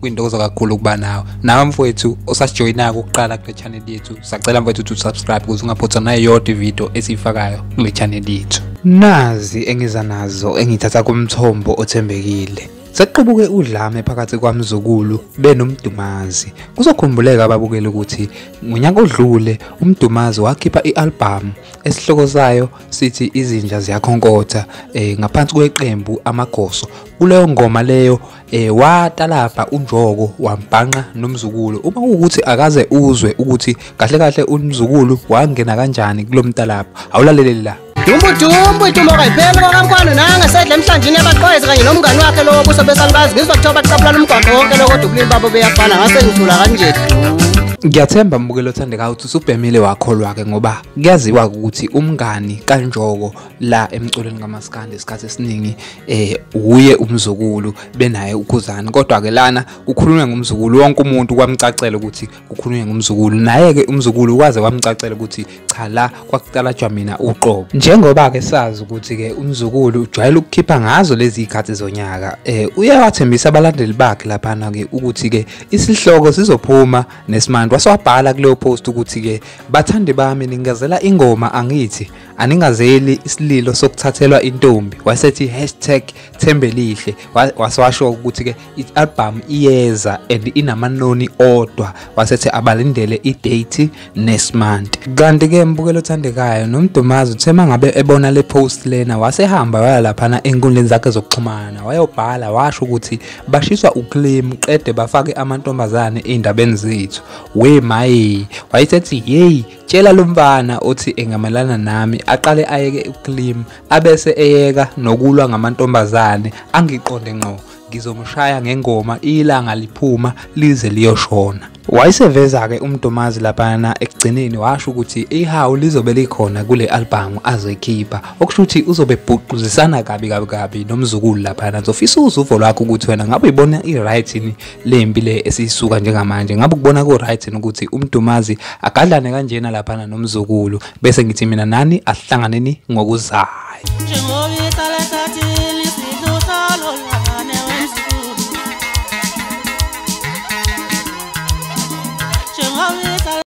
kwintokozo kakhulu ukuba nawe nawe mfowethu osasijoyinako ukuqala kule channel yethu sacela mfowethu ukuthi usubscribe ukuze ungaphothwa nayo yodwa ividiyo esiyifakayo kule channel yethu nazi engiza nazo engithatha kumthombo othembekile Sekuqubuke udlame phakathi kwamzukulu benomdumazi. Kuzokhumbuleka ababukeli ukuthi ngonyaka odlule umdumazi wakhipha i-album esihloko sayo sithi izinja ziyakhonkotha eh, ngaphansi kweqembu amagoso. Kuleyo ngoma leyo eh watalabha unjoko wambhanqa nomzukulu uma ukuthi akaze uzwe ukuthi kahle kahle umzukulu wangena kanjani kulomtalabha awulaleleli la Dumbudumbwe itumbo kayipheli kwakamkwano nanga sedla emhlanjini yabaqwezi kanye nomngani wakhe lowo buso besalibazi ngizwa kuthiwa baqabulana umgwaqo wonke lowo kodwa ubulili babo beyafana ngase ngithula kanje ngiyathemba mbukelo othandekayo ukuthi usubhemile wakholwa-ke ngoba kuyaziwa ukuthi umngani kanjoko la emculweni kamaskandi isikhathi esiningi eh uye umzukulu benaye ukhuzani kodwa ke lana kukhulunywa ngomzukulu wonke umuntu kwamcacela ukuthi kukhulunywa ngomzukulu naye ke umzukulu kwaze kwamcacela ukuthi cha la kwakuqala jwamina uqobo njengoba ke sazi ukuthi ke umzukulu ujwayele ukukhipha ngazo lezi ikhathi zonyaka eh uyawathembisa abalandeli bakhe lapha na ke ukuthi ke isihloko sizophuma nesimandwa swabhala kuleyo post ukuthi ke bathandi bami ningazela ingoma angithi aningazeli isililo sokuthathelwa intombi wasethi hashtag thembelihle wasewasho ukuthi-ke i-albhamu iyeza and inamanoni odwa wasethi abalindele idate next month kanti-ke mbukelo othandekayo nomdumazi uthe uma ngabe ebona le post lena wasehamba waya laphana enkundleni zakhe zokuxhumana wayobhala washo ukuthi bashiswa uclaim qede bafake amantombazane ey'ndabeni zethu we maye wayesethi yeyi Tshela lo mfana othi engamelana nami aqale ayeke ucleam abese eyeka nokulwa ngamantombazane angiqonde ngqo ngizomshaya ngengoma ilanga liphuma lize liyoshona wayeseveza-ke umdomazi laphana ekugcineni washo ukuthi ihawu lizobe likhona kule albhamu azoyikhipha okusho ukuthi uzobe bhuquzisana kabi kabi kabi nomzukulu laphana ngizofisa uzuvo lwakho ukuthi wena ngabe uyibona i-right yini lempi le esiyisuka njengamanje ngabe ukubona ku right ukuthi umdumazi agadlane kanjena lapha nomzukulu bese ngithi mina nani ahlanganeni ngokuzayo